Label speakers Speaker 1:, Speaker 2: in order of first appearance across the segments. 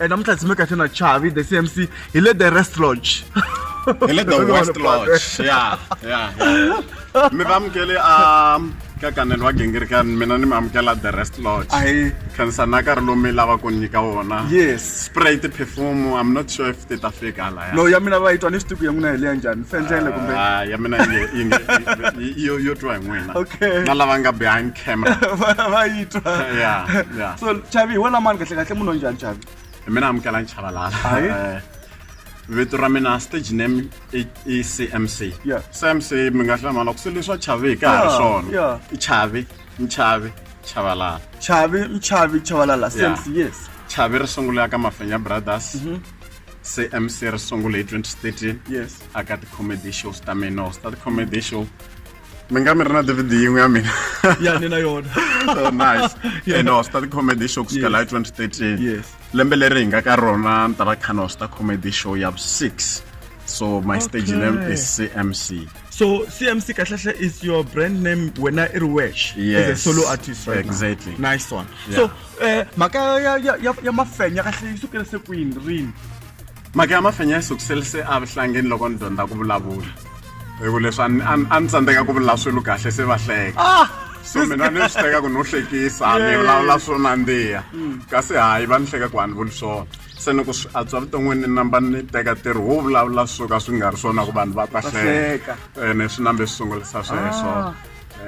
Speaker 1: Eh, namuntlha ndzi meka xana chavi the cmc hi le the rest lodge hi le the
Speaker 2: west lodge ya ya mi va amukele a um, ka kanelo wa gingirikani mina ni mi amukela the rest lodge ahi khansana nkarhi lowu mi lava ku nyika wona yes spray
Speaker 1: ti-perfume
Speaker 2: i'm not sure if ti ta fika no ya mina va yi twa ni swi tivi
Speaker 1: ku ya n'wina hi leya njhani fendlele kumbe Ah, ya mina yi- yi
Speaker 2: nge- yi- yi- yo yo twa hi n'wina Okay. na lava nga
Speaker 1: behind
Speaker 2: camera va va yi twa
Speaker 1: Yeah, yeah. so
Speaker 2: chavi hi wena
Speaker 1: mani kahle kahle munhu wa njhani chavi hi mina amukela
Speaker 2: nchavalala Aye. Eh, vito ra mina stage name i i cmc Yeah. cmc mi nga hlamala ku se leswa chavi ka ha ri Yeah, swona yeah. i chavi nchavi chavalala chavi
Speaker 1: mchavi chavalala Yeah. sense yes chavi ri sungula
Speaker 2: ka mafenya brothers se mc ri sungule hi 2013 yes aka
Speaker 1: ti-comedy
Speaker 2: shows ta mina or ta ti-comedy show mi nga mi ri na dvd yin'we ya mina ya ni na yona
Speaker 1: so nice
Speaker 2: yeah. and hosta the comedy show kusukela hi 2013 yes lembe leri
Speaker 1: hi nga ka
Speaker 2: rona ni ta va khana hosta comedy show ya 6 so my okay. stage name is cmc so cmc
Speaker 1: kahlahla is your brand name wena i ri wesh yes. as a solo artist
Speaker 2: right
Speaker 1: exactly now. nice one
Speaker 2: yeah.
Speaker 1: so Eh, mhaka ya ya ya ya mafenya kahle yi sukele se kwini rini mhaka ya
Speaker 2: mafenya yi sukisele se a vuhlangeni loko ni dyondza ku vulavula hi ku leswi a ni- a ni- a ni tsandzeka ku vula swilo kahle se va hleka ah so mina ni swi teka ku no hlekisa ni Yeah. vulavula swo nandziha kasi hayi va ni hleka ku a ni vuli swona se ni ku swi antswa vuton'wini ni namba ni teka ntirho wo vulavula swo ka swi nga ri swona ku vanhu va ta hleka hleka. ene swi nambe swi sungulisa sweswo Ah.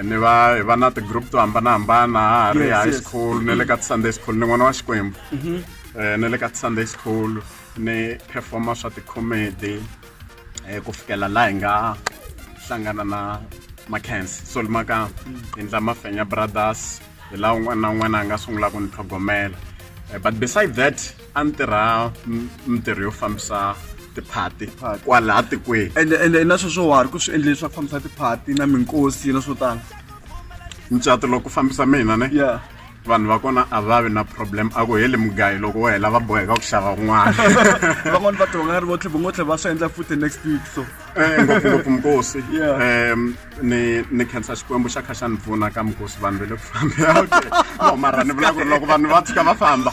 Speaker 2: ni va hi va na ti-group to hambanahambana ha ha ri Yes, high yes. school ni le ka ti-sunday school ni n'wana wa xikwembu Eh, ni le ka ti-sunday school ni performa swa ti-comedy eh, ku fikela laha hi nga hlangana na macans so limaka hi ndla mafenya brothers hi laha un'wana na un'wana a nga sungula ku ni tlhogomela Eh, but beside that a ni tirha mintirho yo fambisa tiphati kwalaha tikweni ende ende na swo swo
Speaker 1: wari ku swi endle leswaku fambisa tiphati na minkosi na swo tala mucato
Speaker 2: loko fambisa mina ne yeah vanhu va
Speaker 1: kona
Speaker 2: a va vi na problem a ku heli mugayi loko wo hela va boheka ku xava un'wana van'wani va
Speaker 1: tonga ri votlhe vongotlhe va swi endla futhi next week so eh, ngopfungopfu
Speaker 2: mukosi um ni ni khensa xikwembu xa kha xa ni pfuna ka mukosi vanhu va le ku fambea okay no mara ni vula ku ri loko vanhu va tshuka va famba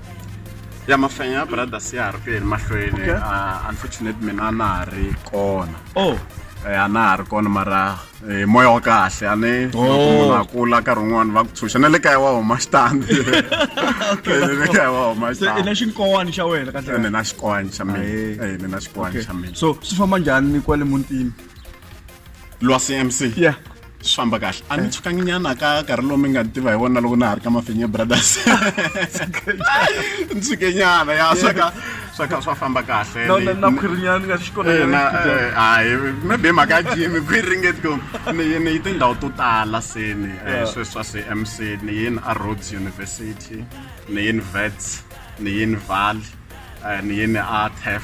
Speaker 1: ya
Speaker 2: mafenya ya brothers ya ha ri ku yeni mahlweni Okay. Ah, unfortunate mina a na ha ri kona oh Eh, a na ha ri kona mara eh, moya wa kahle a ni loko Oh. munhu a kula nkarhi wun'wani va ku tshunxa na le kaya wa huma xitandi Eh, na le kaya wa huma se i na xitandi xinkowani xa wena
Speaker 1: kahle ni na xikwani xa
Speaker 2: mina Ahe. Eh, ni na xikwani xa mina so swi famba njhani
Speaker 1: kwale mutini
Speaker 2: lwasi mc yeah swi famba kahle a ni eh. tshukangi nyana ka nkarhi lowu mi nga ni tiva hi wona loko na ha ri ka mafenye brothers ni tshuke nyana ya swa ka swa ka swa famba kahle na khwirinyana nga
Speaker 1: xi kona eh, eh, hayi
Speaker 2: maybe mhaka ya jimi khwiri ringeti ku ni ni yi tindhawu to tala se ni sweswa se mc ni yini a rhodes university ni yini vets ni yini valley ni yini a tef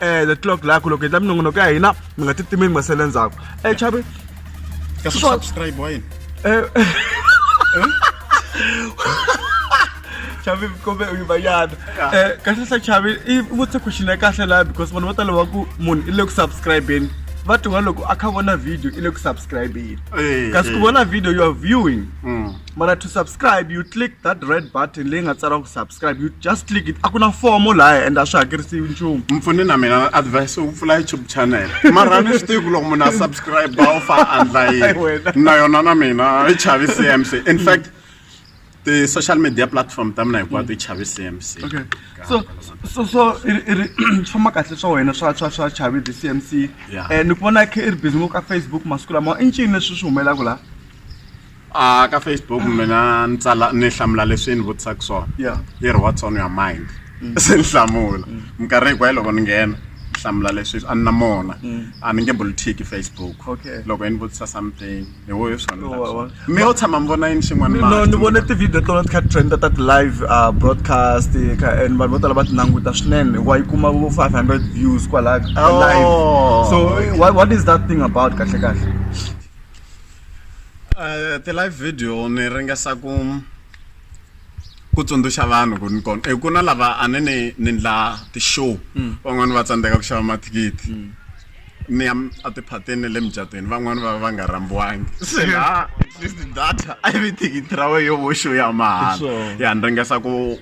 Speaker 1: eh the clock lakho loko endla minongonoko ya hina mi nga ti timi mi nga sele ndzhaku eh chavi ka
Speaker 2: subscribe wa yini
Speaker 1: eh chavi kumbe u yimayana um eh, kahle sa chavi i vutise question ya kahle laha because vanhu vo tala va ku munhu i le ku subscribeni va tiwa loko a kha vona video i le ku subscribeni eh, kasi ku eh. vona video you are viewing mm. mara to subscribe you click that red button leyi nga tsariwa ku subscribe you just click it a ku na fomo lahaya and a swi hakerisiwi nchumu mpfuni na mina
Speaker 2: advice u pfula youtube channel mara ni swi tivi ku loko munhu a subscribe u fa andla yini na yona na mina yi chavi cmc in fact ti-social media platform ta mina hinkwato yi chavi cmc
Speaker 1: okay so so so swi famba kahle swa wena swa swa swa chavi the cmc um ni ku vona i ri busy ngopfu ka facebook masiku lama i ncini leswi swi humelelaka laha a
Speaker 2: ka facebook mina ni tsala ni hlamula leswi ni vutisaka swona Yeah. yi ri what's on your mind se ni hlamula minkarhi hinkwayo loko ni nghena ni hlamula leswi a ni na mona a ni nge bulitiki facebook Okay. loko yi ni vutisa something hi wo hi swona ni Wa- wa- swona. mi yo tshama mi vona yini xin'wana no ni vone tivhidiyo tona
Speaker 1: ti kha ti trenda ta ti-live uh, broadcast ka and vanhu vo tala va ti languta swinene wa yi kuma vo 500 views kwalaha ka Oh. live so what, what is that thing about kahle kahle
Speaker 2: eh, ti-live video ni ringesa ku ku tsundzuxa vanhu ku ni kona ku na lava a ni ni ni ndla ti-show mm. van'wani va tsandzeka ku xava mathikithi mm. ni ya a tiphateni ni le mujatweni van'wani va va nga rambiwangi se laha data a yi vi thikithi ra wehe yo vo show ya mahala ya ni ringesa ku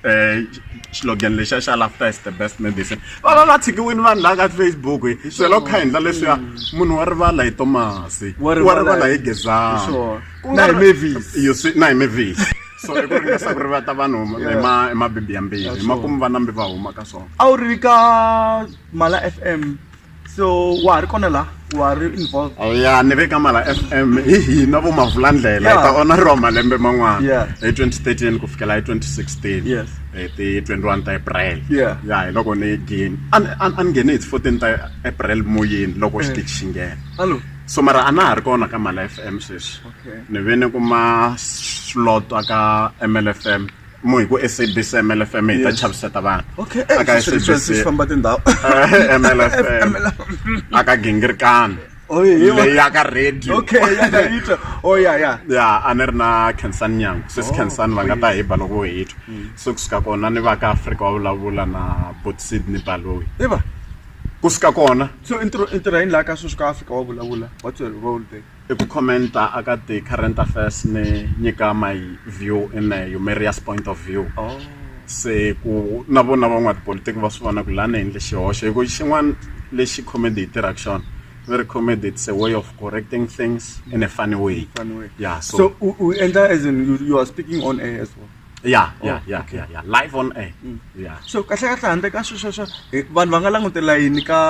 Speaker 2: eh slogan lexa xa laughter is the best medicine va va va tshikiwini vanhu laha ka facebook hi swela ku kha hi ndla leswiya munhu wa rivala hi tomasi Wa wa rivala rivala hi hi- gezani Sure. Ku Na nga hi ri- Mavis.
Speaker 1: You see- na hi mavis
Speaker 2: so i ku ringesa ku rivata vanhu hi ma- hi mabibi yambirhi hi makumu va nambi va huma ka swona a wu ri ka
Speaker 1: mala fm so wa ha ri kona la wa ri involved oh, ya ni ve ka mala
Speaker 2: f m hi hina vo mavula ndlela hi ta ona ri wa malembe man'wana hi 2013 ku fikela hi 2016 yes hi ti 21 ta april ya hi loko ni gini a ni nghene hi ti 14 ta april moyeni loko xi eh. ti xingena so mara a
Speaker 1: na ha ri
Speaker 2: kona ka mala f m sweswi ni ve ni kuma slot ka mlf m mo hi ku sabc mlfm hi ta chaviseta vanhu okay eh, aka sabc famba tindhawu
Speaker 1: mlfm
Speaker 2: aka gingirikani oh, leyi ya ka radio okay ya ka radio oh ya ya ya a ni ri na Khensani Nyangu sis oh, Khensani va nga ta hi ba loko hi twa mm. so ku suka kona ni va ka Africa wa vulavula na Bot Sydney Baloyi i va ku suka kona so intirho intirho yini
Speaker 1: la ka sweswi ka Africa wa vulavula what's your role there I ku comment-a
Speaker 2: a ka ti-current affairs ni nyika my view in a humorous point of view oh. se ku na vona van'watipolitiki va swi vona ku lani endle xihoxo hi ku xin'wana lexi comedy yi tirhaka xona very comedy it's a way of correcting things in a funny way, funny way. yeah so, so u endla
Speaker 1: as in you, you are speaking on air as well ya oh, ya ya
Speaker 2: ya ya live on air mm. ya so kahle kahle handle
Speaker 1: ka swesweswo vanhu va nga langutela yini ka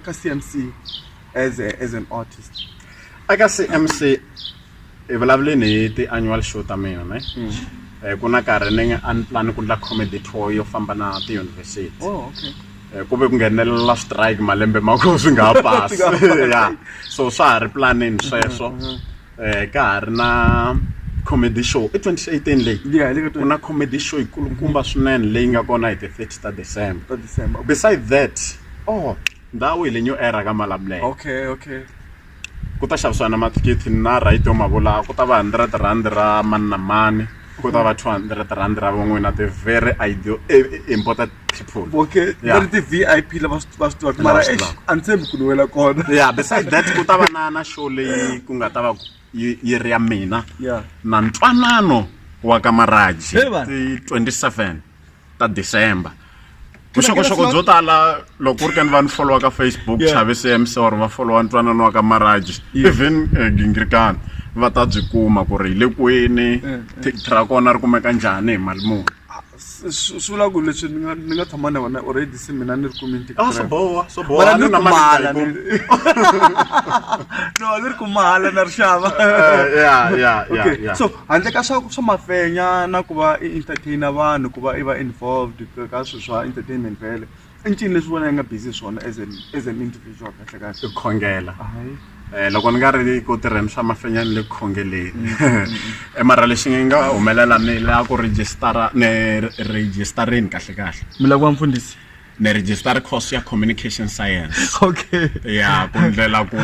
Speaker 1: ka cmc as a, as an artist aka cmc
Speaker 2: hi vulavuleni hi ti-annual show ta mina ne mm. eh, ku na karhi ni a ni plan ku ndla comedy tour yo famba na tiyunivhesiti oh, okay. Eh, ku ve ku nghenelela strike malembe ma ko swi nga ha pasi ya so swa ha ri planini sweswo um ka ha ri na comedy show i 2018 leyi ku na comedy show yikulukumba swinene leyi nga kona hi the 30 ta december beside that oh ndhawu hi le new era ka malamulele okay okay ku ta xavisiwa na mathikithi na right yo ma vula ku ta va hundred rand ra mani na mani ku ta va two hundred rand ra van'wina the very ideal e, e, important people okay va ri
Speaker 1: ti-vip lava va swi tivaka mara a ni tshembi ku ni wela kona ya beside that ku
Speaker 2: ta va na na show leyi ku nga ta va yi ri ya mina na ntwanano wa ka maraji ti 27 ta December vuxokoxoko byo tala loko ku ri ka ni va ni followa ka facebook chave cmc or va followa ntwanano wa ka maraji even eh, gingirikani va ta byi kuma ku ri hi le kwini thikithi ra kona ri kumeka njhani hi mali muni swi vula
Speaker 1: ku leswi ni nga ni nga tshama na wena already se mina ni ri kumi ntikira ah, swo boha swo boha
Speaker 2: ni na mali no
Speaker 1: ni ri kumala na ri xava eh, ya ya
Speaker 2: ya so Handle
Speaker 1: ka swa swa mafenya na ku va i entertain vanhu ku va i va involved ka swilo swa entertainment vhele i ncini leswi vona i nga busy swona as an as an individual kahle kahle i khongela
Speaker 2: hayi Eh, loko ni nga ri ku tirheni swa mafenya ni le ku khongeleni Eh, mara lexi ngi nga humelela ni la ku registara ni registarini kahle kahle mi lava ku va mfundhisi
Speaker 1: ni register
Speaker 2: course ya communication science okay ya ku ndlela ku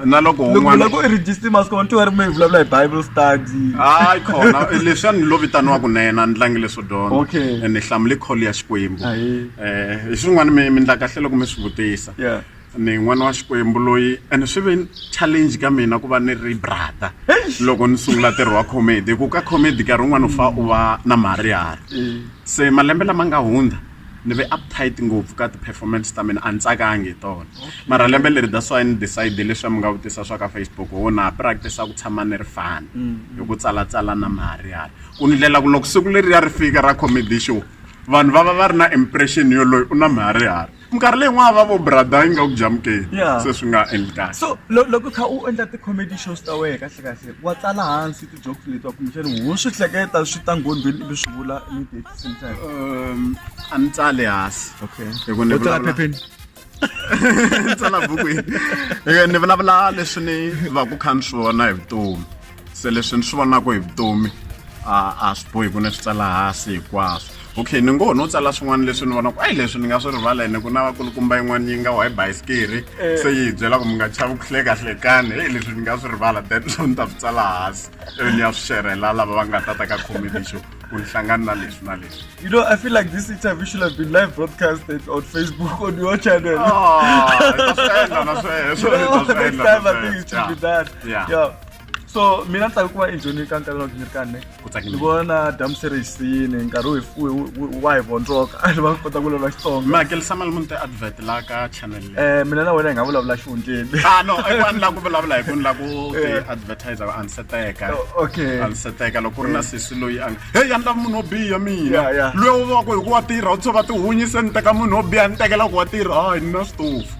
Speaker 2: na loko un'wana ku register
Speaker 1: mas ku vantu va ri mi vulavula hi bible study hayi khona
Speaker 2: leswi a ni lo vitaniwaku na yena ni tlangi leswo dyondza okay ni hlamule call ya xikwembu eh hi swin'wana mi mi ndla kahle loko mi swi vutisa yeah ni n'wana wa xikwembu loyi and swi ve challenge ka mina ku va ni ri brother loko ni sungula ntirho wa comedy hi ku ka comedy nkarhi wun'wana u fa u va na marihari se malembe lama nga hundza ni ve uptight ngopfu ka ti-performance ta mina a ni tsakangi hi tona mara lembe leri that's why ni decide leswi mi nga vutisa swa ka facebook ho na practice ku tshama ni ri fani hi ku tsalatsala na marihari ku ndlela ku loko siku leriya ri fika ra comedy show vanhu va va va ri na impression yoloyo u na marihari minkarhi leyi n'wana va vo brother yi nga ku jamukeli se swi nga endli kahle so loko kha u
Speaker 1: endla ti-comedy shows ta wena kahle kahle wa tsala hansi ti-jokes leti wa kumbexani ho swi hleketa swi ta nghondweni ivi swi vula immediate same time um a ni tsali
Speaker 2: hansi okay hikutsala
Speaker 1: phepheni
Speaker 2: tsala bukwini ni vulavula leswi ni va ku kha ni swi vona hi vutomi se leswi ni swi vonaka hi vutomi a swi bohi ku ni swi tsala hansi hinkwaswo okay ni ngo no tsala swin'wana leswi ni vonaka ayi leswi ni nga swi rivala ene ku na vakulukumba yin'wana yi nga wa hi bayisikiri eh. se yi hi byela ku mi nga chavi ku hlekahlekani heyi leswi ni nga swi rivala that swo ni ta swi tsala hansi ivi ni ya swi xerhela lava va nga ta ta ka comedy show ku ni hlangani na leswi na leswi you know i feel like this
Speaker 1: interview should have been live broadcasted on facebook on your channel ah, ta swi endla na sweswo ta swi endla na sweswo yeah
Speaker 2: so mina
Speaker 1: ni tsake ku va enjheni ka nkarhi wa gini kane ni vona dam series yini nkarhi wa hi vondzoka ni va kota ku vulavula xitsonga mi hakelisa mali muni ti
Speaker 2: advert la ka channel eh mina na wena hi nga
Speaker 1: vulavula xihundleni ah no i want la ku
Speaker 2: vulavula hi ku ni la ku ti eh. advertiser a ni seteka oh, okay a ni seteka loko ri na eh. sisi loyi a hey ya ni lava munhu wo biha mina loyi u va ku hi ku wa tirha u tshova tihunyise ni teka munhu wo biha ni tekela ku wa tirha hayi ni na switofu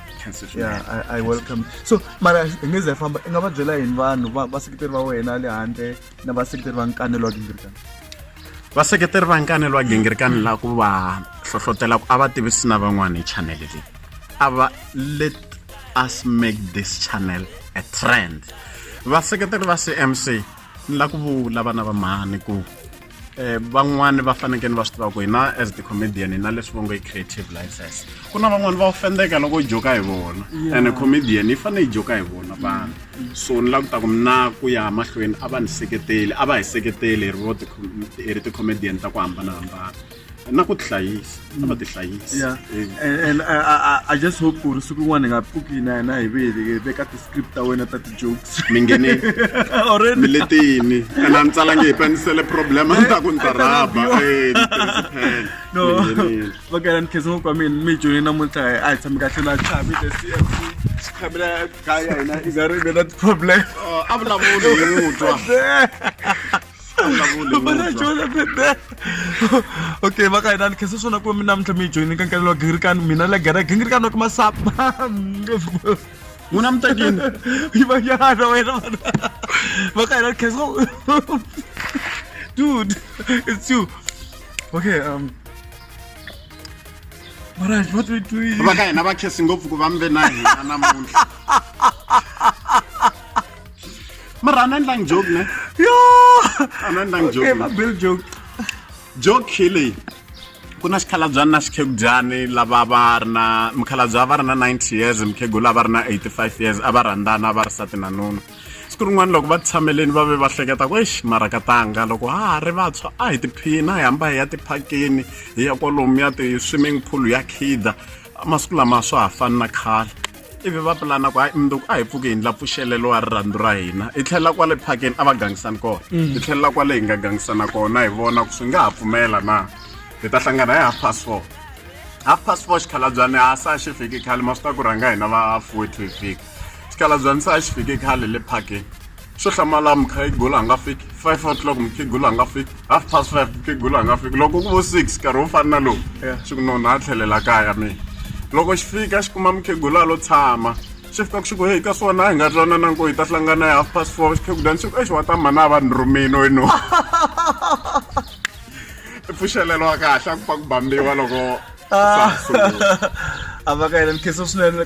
Speaker 1: yeah, I, I welcome so mara hi nge ze famba i nga va byela yini vanhu vaseketeri va wena le handle na vaseketeri va nkanelo wa gingirikani vaseketeri
Speaker 2: va nkanelo wa gingirikani la ku va hlohlotela ku a va tivisi na van'wana hi chanele leyi a va let us make this channel a trend vaseketeri va cmc ni la ku vula vana va mhani ku van'wani va fanekele va swi tiva ku hina as the comedian hina leswi va ngo i creative license ku na van'wani va ofendeka loko u joka hi vona and comedian yi fanele yi joka hi vona vanhu so ni la ku ta ku mina ku ya mahlweni a va ni seketeli a va hi seketeli hi ri vo hi ri ti-comedian ta ku hambanahambana na ku tihlayisa a va tihlayisi yeah Eh, and, and
Speaker 1: I, I, I- I just hope ku ri siku rin'wana hi nga pfuki na hina hi ve hi veka ti-script ta wena ta ti-jokes mi nghenile
Speaker 2: mi already le tini ene a ni tsalange hi panisele problem a ni ta ku ni ta rhaba Eh, ni tirhise pen.
Speaker 1: no Mi nghenile. vakela ni khensa ngopfu ka mina mi joni namuntlha hi- a hi tshami kahle la chavi the cmc khamela gaya hina i nga ri ve na ti-problem Oh, a vulavuli
Speaker 2: hi mutwa
Speaker 1: okay va ka hina ni khensa swona ku mi namuntlha mi yi joyini ka nkarhi wa gingirikani mina la gera gingirikani wa kumasapa n'wina
Speaker 2: mi tekini yi va yana
Speaker 1: wena va ka hina ni khensa dude it's you okay um Maraj, what we doing? Va ka hina va khesi ngopfu
Speaker 2: ku va mi ve na hina namuntlha. mara anandlang joke ne yo anandlang joke okay, mabill
Speaker 1: joke
Speaker 2: joke hi leyi ku na xikhalabyani na xikhegudyani lava va ri na mukhalabya va ri na 90 years mukhegula va ri na 85 years a va rhandzana va ri sati na nuna siku rin'wana loko va tshameleni va ve va hleketa ku exi mara ka tanga loko ha ha ri vantshwa a hi tiphina hi hamba hi ya tiphakeni hi ya kwalomu ya ti-swimming pool ya khida masiku lama swa ha fani na khale ivi va pulana ku hayi mundzuku a hi pfuki hi ndla pfuxelelo wa rirhandzu ra hina hi tlhelela kwale phakeni a va gangisani kona hi tlhelela kwale hi nga gangisana kona hi vona ku swi nga ha pfumela na hi ta hlangana hi half past four half past four xikhalabyani a sa xi fiki khale ma swi ta ku rhanga hina va fourty hi fika xikhalabyani sa xi fike khale le phakeni Swo hlamala mukhegula a nga fiki five o'clock mukhegula a nga fiki half past five mukhegula a nga fiki loko ku vo six nkarhi wo fana na lowu swi ku nona a tlhelela kaya mina loko xi fika xi kuma mukhegula lo tshama xi fika ku xi ku heyi ka swona a hi nga twanana nko hi ta hlangana hi half past four xikhegudani xi ku exi wa ta mhana a va ni rhumini wenu i pfuxelelo wa kahle a ku fa ku bambiwa loko
Speaker 1: a va ka yena ni khensa swinene